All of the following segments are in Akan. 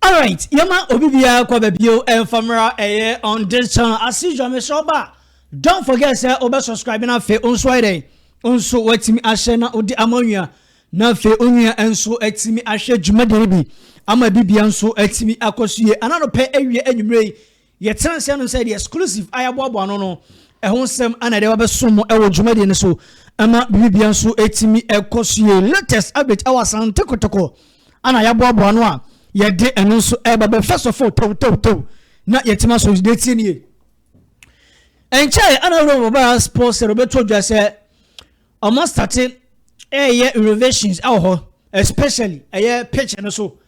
Alright yɛma obi biara kɔ babio ɛmfa mmra ɛyɛ on this channel as usual mesrɛ ɔba don't forget sɛ wobɛ subscribe na afei nso ayɛ dɛn nso watumi ahyɛ na wode ama onua na afei onua nso atumi ahwɛ dwumadie no bi ama bibia nso atumi akɔ so yie ananopɛ awie anwummerɛ yi Yɛtena ase ano sɛ The Exclusive a yɛaboaboa ano no ho nsɛm ana yɛde abɛsom mo wɔ dwumadie no so ma biribiara nso atumi kɔ so yie. Latest update wɔ Asante Kotoko ana yɛaboaboa ano a yɛde ɛno nso ɛba bɛ first of all tawtawtaw na yɛtumi aso deɛ tie nie. Ɛnkyɛe ana wura wɔbaa sports sɛ wɔbɛto dwa sɛ Ɔmo starte ɛɛyɛ renovations ɛwɔ hɔ especially ɛyɛ pitch no so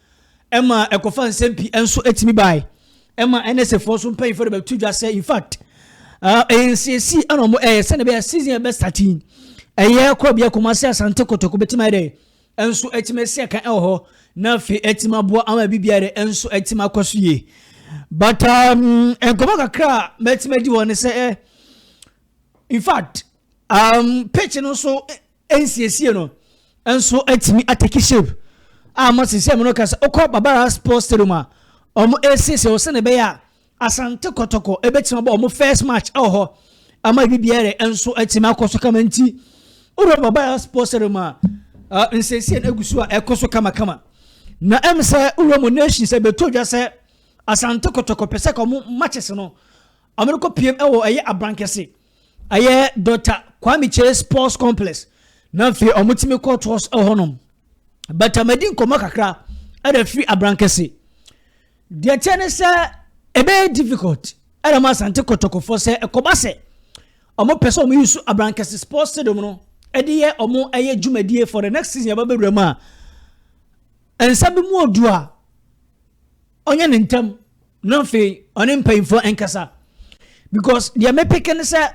ɛma ɛkɔfa nsɛm pii ɛnso ɛtumi bae ɛma NSA foɔ so mpanyinfoɔ de bɛto dwa sɛ in fact ɛyɛ nsiesi ɛna ɔmo ɛyɛ sɛnɛ bɛyɛ season ɛbɛ starte yi ɛyɛ kɔ bia Kumasi Asante Kotoko bɛtumi ayɛ dɛ ɛnso ɛtumi ɛsi ɛka ɛwɔ hɔ na afei ɛtumi aboa ama ɛbi biara dɛ ɛnso ɛtumi akɔ so yie but um, nkɔmɔ kakra a mɛtumi adi wɔ ne sɛ eh, in fact um, pitch no so nsiesie no nso atumi ateki shape a mo sisi ɛmo no kasa okɔ babara sports stadium a wɔn ɛsiesie wɔ sɛnɛ bɛyɛ a asante kɔtɔkɔ ɛbɛtumi abɔ wɔn first match ɛwɔ hɔ ama ebi biara nso atumi akɔ so kama nti wowura babara sports stadium a nsiesie no agu so a ɛkɔ so kamakama na ɛm sɛ wowura mo nation sɛ bɛtɔ dwa sɛ asante kɔtɔkɔ pɛ sɛ kɔ mo matches no wɔn kɔ piem ɛwɔ ɛyɛ abankɛse Ɛyɛ Dɔkta Kwame Kyei Sports Complex na afei wɔtumi kɔ tours wɔ hɔnom. Bata madi nkɔmmɔ kakra ɛna firi Abrankɛse. Deɛ kyɛ ne sɛ ɛbɛyɛ difficult ɛna ma Asante Kɔtɔkɔfoɔ sɛ ɛkɔba sɛ wɔn pɛ sɛ wɔn yi so Abrankɛse Sports Stadium no ɛde yɛ wɔn ɛyɛ dwumadie for the next season yɛba bɛwura mu a nsa bi mu odu a ɔnyɛ ne ntɛm. na afei ɔne mpanyinfoɔ nkasa because deɛ mepeke no sɛ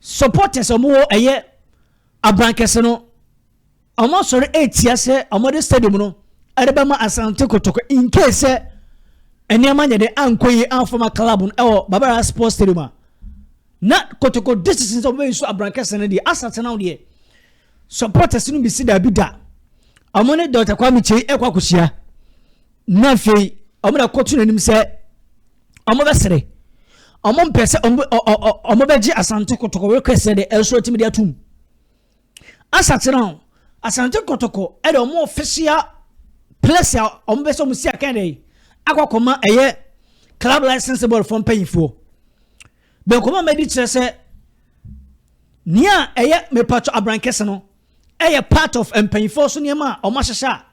supporters a wɔwɔ ɛyɛ abankɛse no wɔn asɔre etia sɛ wɔde stadium no ɛde bɛma asante kotoko in case sɛ nneɛma nyɛ de ankɔ yie anfama club no ɛwɔ babara sports stadium a na kotoko district sɛ wɔbɛyi so abankɛse no deɛ asate no deɛ supporters no bi si daabi da wɔn ne dɔkta kwame kyei ɛkɔ akɔhyia. na afei wɔn na ɛkɔto n'anim sɛ wɔbɛsere wɔn mpɛ sɛ wɔn bɛgye asante kɔtɔkɔ rekɛsɛ de ɛso atumi de atum asakyerɛ ho asante kɔtɔkɔ ɛde wɔn official place a wɔn bɛ sɛ wɔn si akan de akɔkɔma ɛyɛ club license board fɔ mpanyinfoɔ bɛnkɔma mɛdi kyerɛ sɛ nea ɛyɛ mepatɔ abrankɛse no ɛyɛ part of mpanyinfoɔ so nneɛma a wɔn ahyehyɛ a.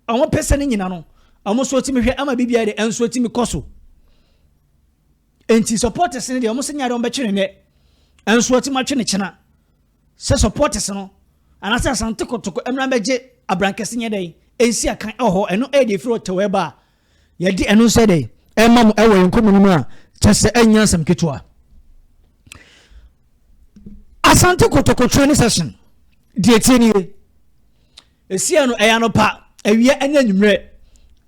Ɔmo pɛ sɛ ne nyina no ɔmo nso tumi hwɛ ama biribiara de nso tumi kɔ so nti supporters no deɛ ɔmo sɛ nyaade ɔmo bɛtwe ne nɛ nso ɔtumi atwe ne kyena sɛ supporters no anaasɛ asante kotoko mmra bɛgye abrankɛse nyɛ dɛn ɛnsi akan ɛwɔ hɔ ɛno ɛyɛ deɛ ɛfiri ɔtɛw ɛba a yɛde ɛno nso dɛn ɛma mo ɛwɔ yɛn nkɔmmɔ no mu a kyɛ sɛ ɛnyɛ asɛm ketewa asante kotoko training session deɛ tie nie Esiei no, ɛyɛ anɔpa, awia ne anwummerɛ.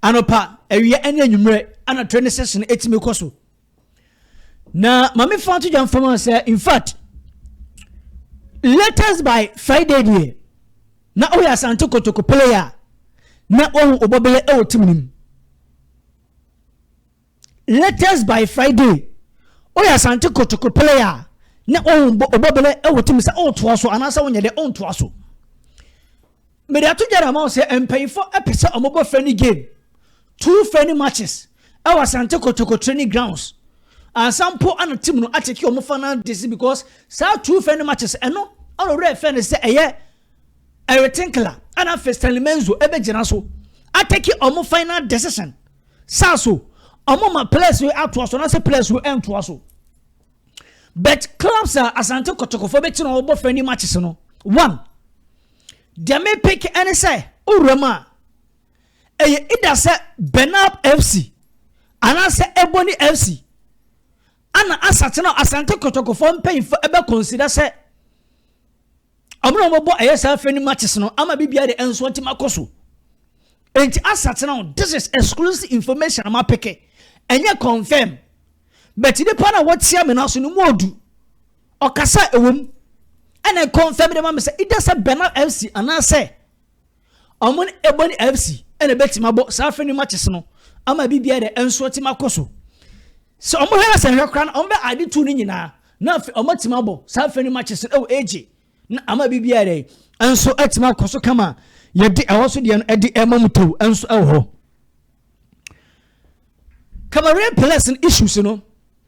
Anɔpa, awia ne anwummerɛ ana train no session ɛtumi kɔ so. Na maame fa to dwa mfam sɛ in fact latest by Friday deɛ na ɔyɛ asante kotoko player na wɔn ɔbɔbɛyɛ ɛwɔ tim nim. Latest by Friday Ɔyɛ Asante Kotoko player a na ɔnbɔ ɔbɔ bɛlɛ wɔ tim sɛ ɔretoa so anaasɛ ɔnyɛ dɛ ɔntoa so. Mede ato dwa ama wo sɛ mpanyinfoɔ pɛ sɛ wɔbɔ friendly game two friendly matches ɛwɔ Asante Kotoko training grounds ansa mpo ana tim no akyɛke wɔn final desi because saa two friendly matches ɛno ɔno werɛ fɛ no sɛ ɛyɛ Eric Tinkler ɛna afei Stanley Menzo ɛbɛgyina so atɛke wɔn final decision saa so ɔmo ma players no atoa so anaasɛ players no ɛntoa so but clubs a asante kɔtɔkɔfɔ bɛkyi na ɔbɔ friendly matches no one deɛ me pick ɛne sɛ owura mu a ɛyɛ ida sɛ benab fc anaasɛ ebony fc ana asate no asante kɔtɔkɔfɔ mpanyinfo ɛbɛ consider sɛ Ɔmo na ɔmo bɔ ɛyɛ saa fɛ ne matches no ama bibia de ɛnso ɔte ma kɔ so. Enti asa tena ho this is exclusive information a ma peke ɛnyɛ confirm but nipa na wɔtia me na so no mu odu ɔkasa ɛwom ɛna confirm de ma me sɛ ida sɛ bɛna FC anaasɛ Wɔn ne Ebony FC na ɛbɛtim abɔ saa afe no matches no ama biribiara de ɛnso atim akɔ so. Sɛ wɔn hwɛ na sɛ nhwɛ koraa no wɔn bɛ ade tu no nyinaa na afei wɔn atim abɔ saa afe no matches no ɛwɔ egye na ama biribiara de ɛnso atim akɔ so kama yɛde ɛwɔ so deɛ no ɛde ɛma mu tew ɛnso ɛwɔ hɔ. Cameroon players no issues no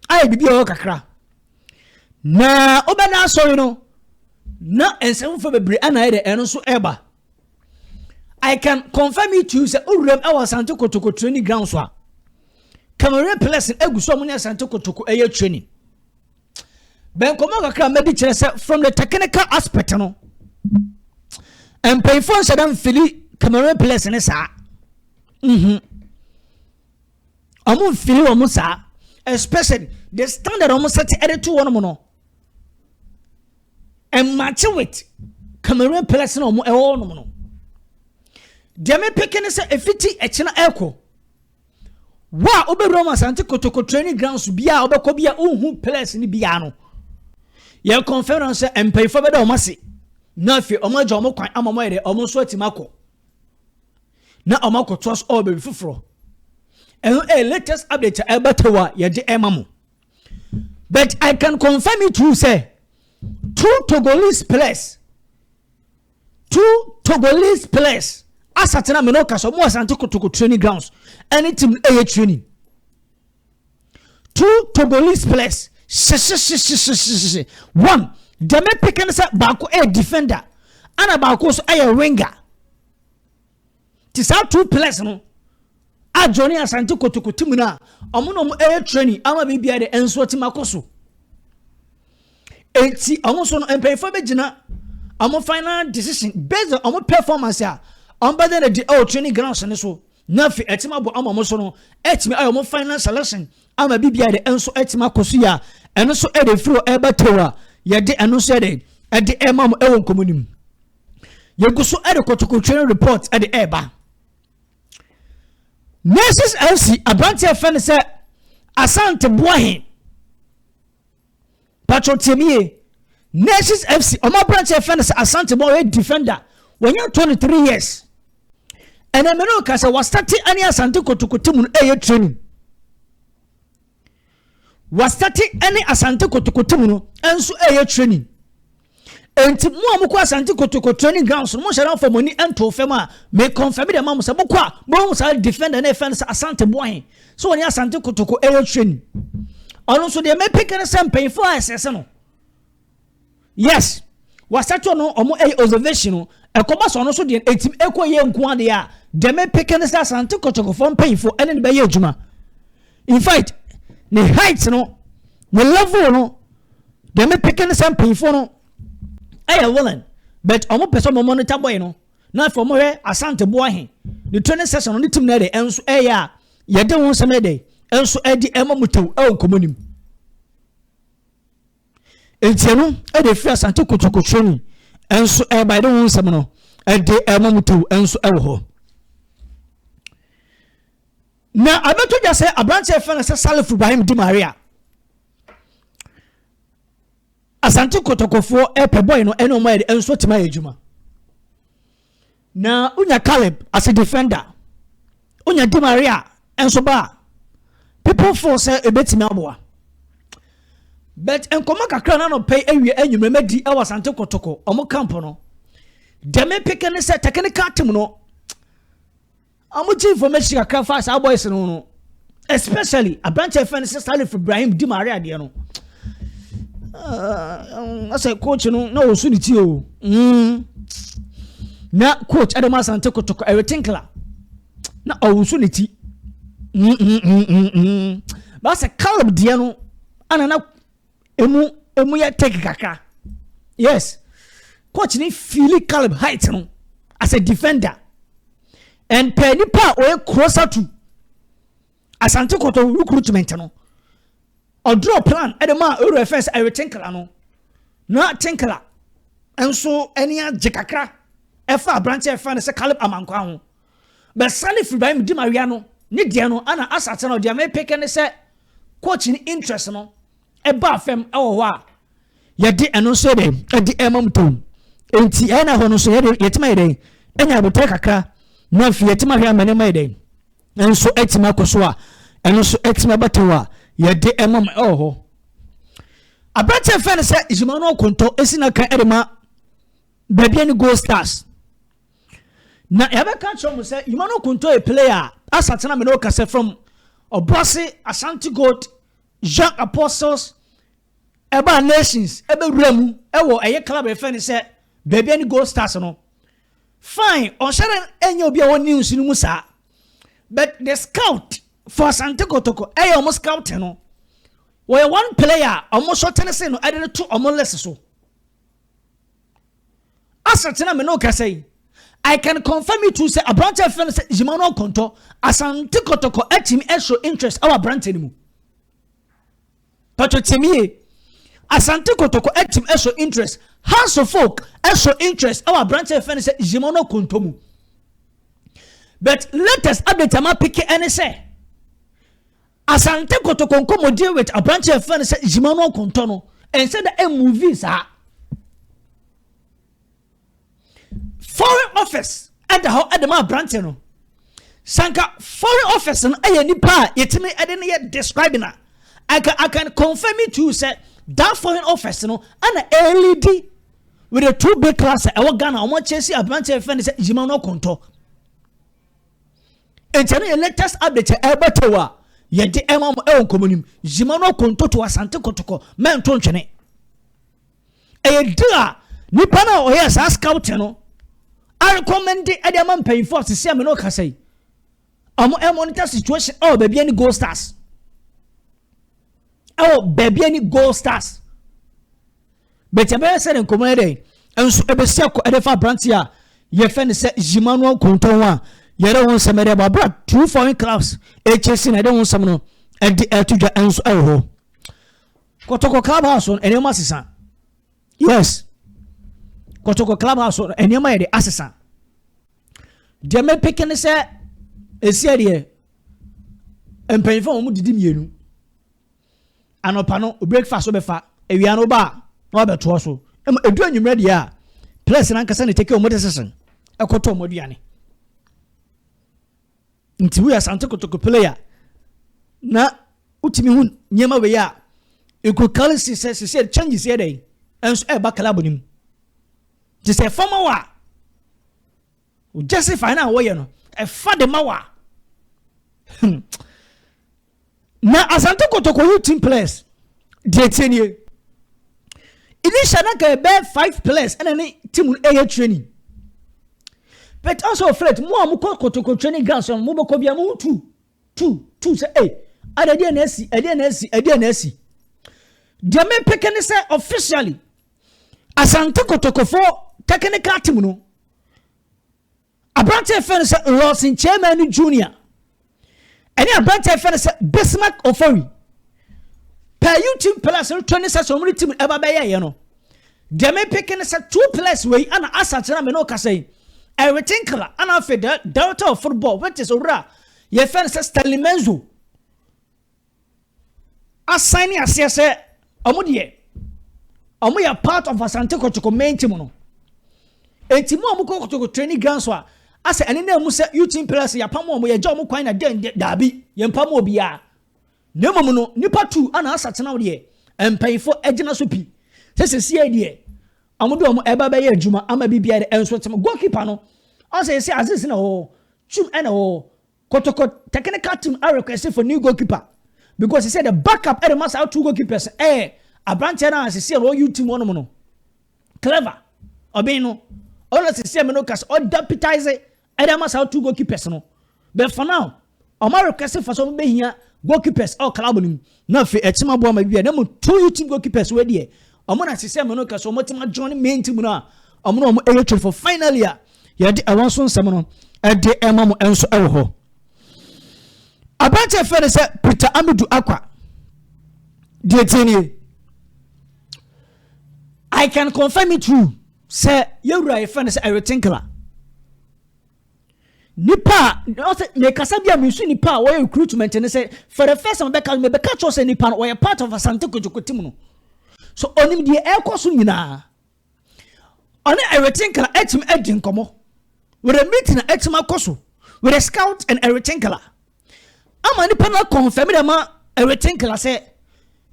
ayɛ biribi a ɛwɔ kakra. Na wobɛda asɔre no na nsɛm foforɔ bebree ana ayɛ dɛ ɛno nso ɛreba I can confirm it to you sɛ owuram ɛwɔ asante kotoko training ground so a kamere plɛs egu so a wɔnyɛ asante kotoko ɛyɛ training bɛnkɔmɔ kakra a mɛdi kyerɛ sɛ from the technical aspect no mpanyinfoɔ nhyɛ dɛm fili kamere plɛs ne saa mhm. ɔmo nfili wɔn saa especially the standard ɔmo sɛte ɛde to wɔn no ɛmatch with cameroon players na ɔmo ɛwɔ wɔn no deɛ me peke ne sɛ efiti ɛkyina ɛkɔ wo a wobɛwura mu asante kotoko training grounds bia a wobɛkɔ bia wohu players no bia no yɛ confirm no sɛ mpanyinfoɔ bɛda wɔn ase na afei wɔn agya wɔn kwan ama wɔn ayɛ dɛ wɔn nso atumi akɔ. na wɔn akɔtoa so wɔ baabi foforɔ ɛno ɛyɛ latest update a ɛba tew a yɛde ɛma mo but i can confirm it to you sɛ two togolese players two togolese players asatena mene ɔka sɛ ɔmo asante kotoko training grounds ɛne team ɛyɛ training. Two Togolese players hyehyehyehyehyehyehye one deɛ me pick ne sɛ baako yɛ defender ɛna baako nso yɛ winger te saa two players no a Johnny Asante Kotoko ti mu no a wɔn na wɔn yɛ training ama biribiara de nso ɔte ma kɔ so Enti ɔno nso no mpanyinfoɔ bɛgyina wɔn final decision based on wɔn performance a wɔn bɛda no adi wɔ training grounds no so na afei ɛtumi abɔ ama wɔn so no ɛtumi ayɛ wɔn final selection ama biribiara de ɛnso ɛtumi akɔ so yie a ɛno nso ɛde firi hɔ ɛreba tew a yɛde ɛno nso yɛde ɛde ɛma mo ɛwɔ nkɔmɔ no mu yɛgu so ɛde kɔtɔkɔ training report ɛde ɛreba nurses fc aberanteɛ fɛ no sɛ asante boahe patro tie me yie nurses fc wɔn aberanteɛ fɛn no sɛ asante bɔ ɔyɛ defender wɔnyɛ twenty three years ɛnna mene ɔka sɛ wasate ɛne asante kotokote mu no ɛyɛ training wasate ɛne asante kotokote mu no ɛnso ɛyɛ training Enti mo a mokɔ Asante Kotoko training grounds no, monhyɛ da mfa mo ani nto fam a, me confirm de ma mo sɛ mokɔ a, mohu saa defender na ɛfɛ no sɛ Asante Boahen, sɛ ɔne Asante Kotoko ɛyɛ training. Ɔno nso deɛ mepeke no sɛ mpanyinfoɔ a ɛsɛsɛ no. Yes, wasɛto no ɔmo ɛyɛ observation no, ɛkɔba sɛ ɔno nso deɛ ɛtim ɛkɔ yɛ nko adeɛ a, deɛ mepeke no sɛ Asante Kotokofoɔ mpanyinfoɔ ɛne no bɛyɛ adwuma. in fact ne height no ne level no deɛ mepeke no sɛ mpanyinfoɔ no ɛyɛ willing but wɔn pɛ sɛ wɔn monitor boy no na afei wɔn hwɛ asante boa he ne training session no ne team no ɛde ɛnso ɛyɛ a yɛde wɔn nsɛm ɛde ɛnso ɛde ɛma mu tew ɛwɔ nkɔmɔ nim ntia no ɛde firi asante kotoko training ɛnso ɛba ɛde wɔn nsɛm no ɛde ɛma mu tew ɛnso ɛwɔ hɔ. Na abɛto dwa sɛ aberanteɛ fɛ no sɛ Salif Ibrahim Di Maria Asante Kɔtɔkɔfoɔ ɛpɛ bɔɔl no ɛne ɔmo ayɛ de nso tuma yɛ adwuma na wonya Caleb as a defender wonya Di Maria nso ba a people feel sɛ ebetumi aboa but nkɔmɔ kakra na nɔpɛ awie enyimire mɛdi ɛwɔ Asante Kɔtɔkɔ ɔmo camp no dɛm peke ne sɛ technical team no Ɔmo gye information kakra fa saa boys no ho no especially aberante a yɛfrɛ no sɛ Salif Ibrahim di maare adeɛ no asɛ coach no na ɔsu ne ti o mm. na coach Adam Asante kotoko ɛretinkla na ɔwosu ne ti mm, mm, baasa Caleb deɛ no ana na emu emu yɛ tɛki kakra yes coach ni fili caleb height no as a defender and pɛ nipa a ɔyɛ closer to asante kɔtɔ recruitment no ɔdrɔ plan ɛde ma ewura fɛn sɛ ɛwɛ tinkala no na tinkala nso ɛni agye kakra ɛfa aberante ɛfa ne sɛ caleb amankwa ho Bɛsane firi ba me di mawea no ne deɛ no ana asate no deɛ mepeke ne sɛ coach ne interest no ɛbaa fam ɛwɔ hɔ a yɛde ɛno nso yɛde ɛde ɛma mu tom nti ɛyɛ na hɔ no nso yɛde yɛtuma yɛ dɛn ɛnya abotire kakra na afei yɛtuma hwɛ amane ma yɛ dɛn nso ɛtuma kɔ so a ɛno nso ɛtuma bɛtɛw a yɛde ɛma mu ɛwɔ hɔ aberanteɛ fɛn no sɛ Emmanuel Konto esi na kan ɛde ma baabi ɛne Gold Stars. Na yɛbɛka akyerɛ wɔn sɛ, Yima no Kunto yɛ player a asate na me ne wo kasa from Ɔboase Ashanti Gold Young Apostles ɛbaa Nations ɛbɛwura mu ɛwɔ ɛyɛ club a yɛfɛ no sɛ baabi ne Gold Stars no. Fine, ɔnhyɛ dɛ ɛnyɛ obi a wɔ news no mu saa. But the scout for Asante Kotoko ɛyɛ wɔn scout no. Wɔyɛ one player a wɔn sɔtene se no ɛde to wɔn list so. asetena me ne wo kasa yi I can confirm it to say aberante a fɛn sɛ Emmanuel Konto Asante Kotoko atumi ɛhyɛ interest ɛwɔ aberante no mu pɛtɔ tie mi yie Asante Kotoko atumi ɛhyɛ interest House of Folk ɛhyɛ interest ɛwɔ aberante a fɛn sɛ Emmanuel Konto mu but latest update ama peke ɛne sɛ Asante Kotoko nkɔmmɔdie with aberanteɛ a yɛfrɛ no sɛ Emmanuel Kontɔ no ɛnsɛ da ɛmmuvi saa. Foreign office ɛda hɔ ɛde ma aberanteɛ no. Sanka foreign office no ɛyɛ nipa a yɛtumi ɛde no yɛ describing a I can, I can confirm it to you sɛ that foreign office no ɛna ɛlidi with the two big class ɛwɔ Ghana wɔn akyɛ si aberanteɛ a yɛfrɛ no sɛ Emmanuel Kontɔ. nti ɛno yɛ latest update a ɛba to a yɛde ɛma mo ɛwɔ nkɔmɔ nim zima no akontoto asante kɔtɔkɔ mɛnto ntwene ɛyɛ di a nipa no a ɔyɛ saa scout no arekɔmɛnde ɛde ama mpanyinfoɔ asese a mene ɔkasa yi ɔmo ɛmonitor situation ɛwɔ baabi ɛne gold stars ɛwɔ baabi ɛne gold stars but ɛbɛyɛ sɛ ne nkɔmmɔ yɛ dɛn nso ɛbɛsi akɔ ɛde fa aberanteɛ a yɛfɛ no sɛ yima no nkonto ho a yɛde ho nsɛm ɛde ɛbɔ abira true foreign clubs ɛkyɛ si na ɛde ho nsɛm no ɛde ɛto dwa nso ɛwɔ hɔ kɔtɔkɔ club house no ɛnneɛma asesa yes kɔtɔkɔ club house no ɛnneɛma yɛ de asesa deɛ mɛpeke ne sɛ ɛsiɛ deɛ mpanyinfoɔ wɔn didi mmienu Anɔpa no, wo breakfast wobɛfa, awia no woba a na wabɛtoa so. Ɛma ɛdu anwummerɛ deɛ a, players no ankasa na take wɔn decision ɛkɔtɔ wɔn aduane. Nti woyɛ Asante Kotoko player na wotumi hu nneɛma wei a, you could clearly see sɛ sisi changes yɛ dɛn ɛnso ɛreba club no mu. Nti sɛ ɛfam wɔ a, O justify no a wɔyɛ no, ɛfa de ma wo a. Hmm. Na Asante Kotoko you team players deɛ tie nie. Initial na ka ɛbɛyɛ five players ɛna ne team no ɛyɛ training. But also afraid mo a mo kɔ Kotoko training ground so mo bɛkɔ bia mo tu tu, tu sɛ ei, ada ɛdeɛ na asi, ɛdeɛ na asi, ɛdeɛ na asi. Deɛ mepeke ne sɛ officially Asante Kotokofoɔ technical team no aberanteɛ fɛ no sɛ Lawson Chairman no junior ɛne aberanteɛ fɛ no sɛ Bismarck Ofori pɛ YouTube plus no tɔ ne sɛ sɛ ɔmo ne team ɛba bɛyɛ yɛ no deɛ mepeke ne sɛ two plus wei ana asakyera me ne ɔkasa yi ɛrete nkra ana afei delta of football which is owura yɛfrɛ no sɛ stanley menzo asan ne aseɛ sɛ ɔmo deɛ ɔmo yɛ part of asante kɔtɔkɔ main team no eti mu a ɔmo kɔ kɔtɔkɔ training ground so a asɛ ɛne na emu sɛ utim players yɛ apam ɔmo yɛgya ɔmo kwan na dɛn dɛ daabi yɛn mpam obiara na mmom no nipa tu ana asatena deɛ mpanyinfo agyina so pi sɛ sisi yɛ deɛ Ɔmo de ɔmo ɛba bɛyɛ adwuma ama bi bia de ɛnso tem goal keeper no ɔsɛ ɛsɛ aziz na ɔwɔ twum ɛna ɔwɔ kotoko technical team a request for new goal keeper because he said the backup ɛde ma saa two goal keepers ɛyɛ abranteɛ no a sisi ɛna ɔwɔ youth team ɔnom no clever ɔbɛn no ɔno sisi ɛmɛ no kasi ɔdeputize Ɛde ama saa two goalkeepers no. But for now, wɔn request for sɛ wɔn bɛhia goalkeepers ɛwɔ club no mu. Na afei ɛtim aboa ma bibia. Na mmom two youth team goalkeepers wei deɛ, wɔn na sisɛ mɛ no kɛse wɔn tim adjoin main team no a wɔn na wɔn ɛyɛ twere for finally a yɛde ɛwɔ nso nsɛm no ɛde ɛma mo ɛnso ɛwɔ hɔ. Aberanteɛ fɛ no sɛ Peter Amidu Akwa. Deɛ tie nie. I can confirm it true. Sɛ yɛn wura yɛfrɛ no sɛ Eric Tinkler. Nipa a ɔsɛ mekasa bi a mesu nipa a wɔyɛ recruitment no sɛ for the first time bɛka mebɛka kyerɛw sɛ nipa no ɔyɛ part of Asante Kotoko team no. So ɔnim deɛ ɛrekɔ so nyinaa. Ɔne Eric Tinkler atumi adi nkɔmmɔ. With a meeting atumi akɔ so with a scout and Eric Tinkler. ama nipa no akɔnfɛm dɛ ma ɛrete nkra sɛ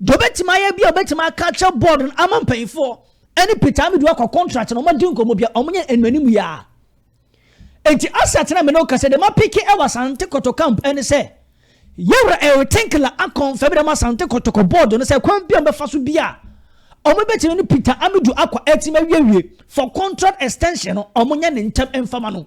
deɛ ɔbɛtumi ayɛ bi a ɔbɛtumi aka akyerɛ board no ama mpanyinfoɔ ɛne peter amidu akɔ contract na ɔma di nkɔmɔ bi a ɔmo nyɛ nnuanim yɛ a eti asat na mene ɔkasa de ma peke ɛwɔ asante kɔtɔ camp ɛne sɛ yɛwura ɛrete nkra akɔnfɛm dɛ ma asante kɔtɔkɔ board no sɛ kwan bi a ɔbɛfa so bi a ɔmo bɛtumi ne peter amidu akɔ ɛtumi awiewie for contract extension no ɔmo nyɛ ne ntɛm mfama no.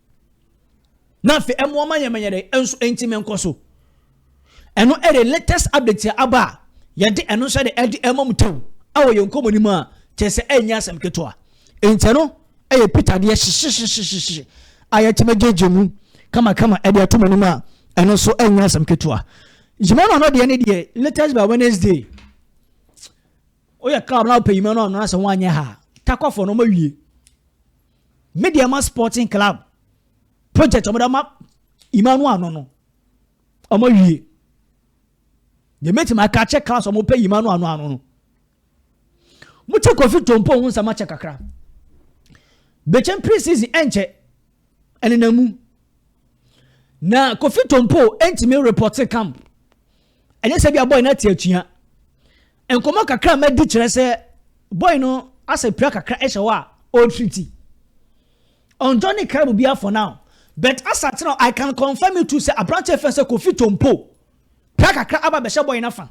na afei ɛmoa ma yɛn mɛnyɛ dɛ nso nti mɛ nkɔ so ɛno ɛde latest update a aba a yɛde ɛno nso ɛde ɛde ɛma mu tɛw ɛwɔ yɛn nkɔmɔ nim a kyɛ sɛ ɛnyɛ asɛm ketewa nti ɛno ɛyɛ peter deɛ hyehyehyehyehyehye a yɛtumi gyegye mu kamakama ɛde ɛto mu anim a ɛno nso ɛnyɛ asɛm ketewa yima no ano deɛ ne deɛ latest by wednesday woyɛ club na wopɛ yima no ano asɛ ho anyɛ ha takɔfoɔ no ɔma wie Medeama Sporting Club project wɔde ama Imanu ano no wɔn awie deɛ mɛtumi aka akyɛ class wɔn pɛ Imanu ano ano no mo kyɛ Kofi Tompo ho nsɛm akyɛ kakra bɛkyɛn pre season ɛnkyɛ ɛnena mu na Kofi Tompo ɛntumi report camp Ɛnyɛ sɛ ebia boy no ate atua. Nkɔmmɔ kakra a madi kyerɛ sɛ boy no asɛ pira kakra hyɛ hɔ a ɔretriti. Ɔnjɔ ne kra mu biara for now. But asa kyerɛ I can confirm it too sɛ aberanteɛ fɛn sɛ Kofi Tompo pira kakra aba bɛhyɛ boy no afa.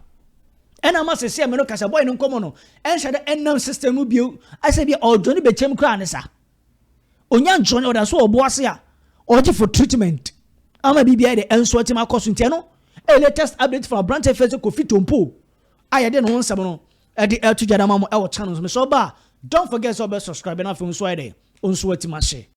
Ɛna ama sɛsɛ me no ka sɛ boy no nkɔmmɔ no ɛnhyɛ dɛ ɛnam system mu bio asɛ bi ɔdwo ne bɛkyɛm koraa ne sa. Onya nkyerɛ ɔda so wɔ ɔbo ase a ɔgye for treatment ama biribiara de ɛnso atim akɔ so nti ɛno ɛyɛ latest update from aberante fɛ sɛ Kofi Tompo a yɛde ne ho nsɛm no ɛde ɛto gya dama mo ɛwɔ channel so mesɛ ɔba a don't forget sɛ ɔbɛ subscribe na afei nso ayɛ dɛ ɔnso atim ahyɛ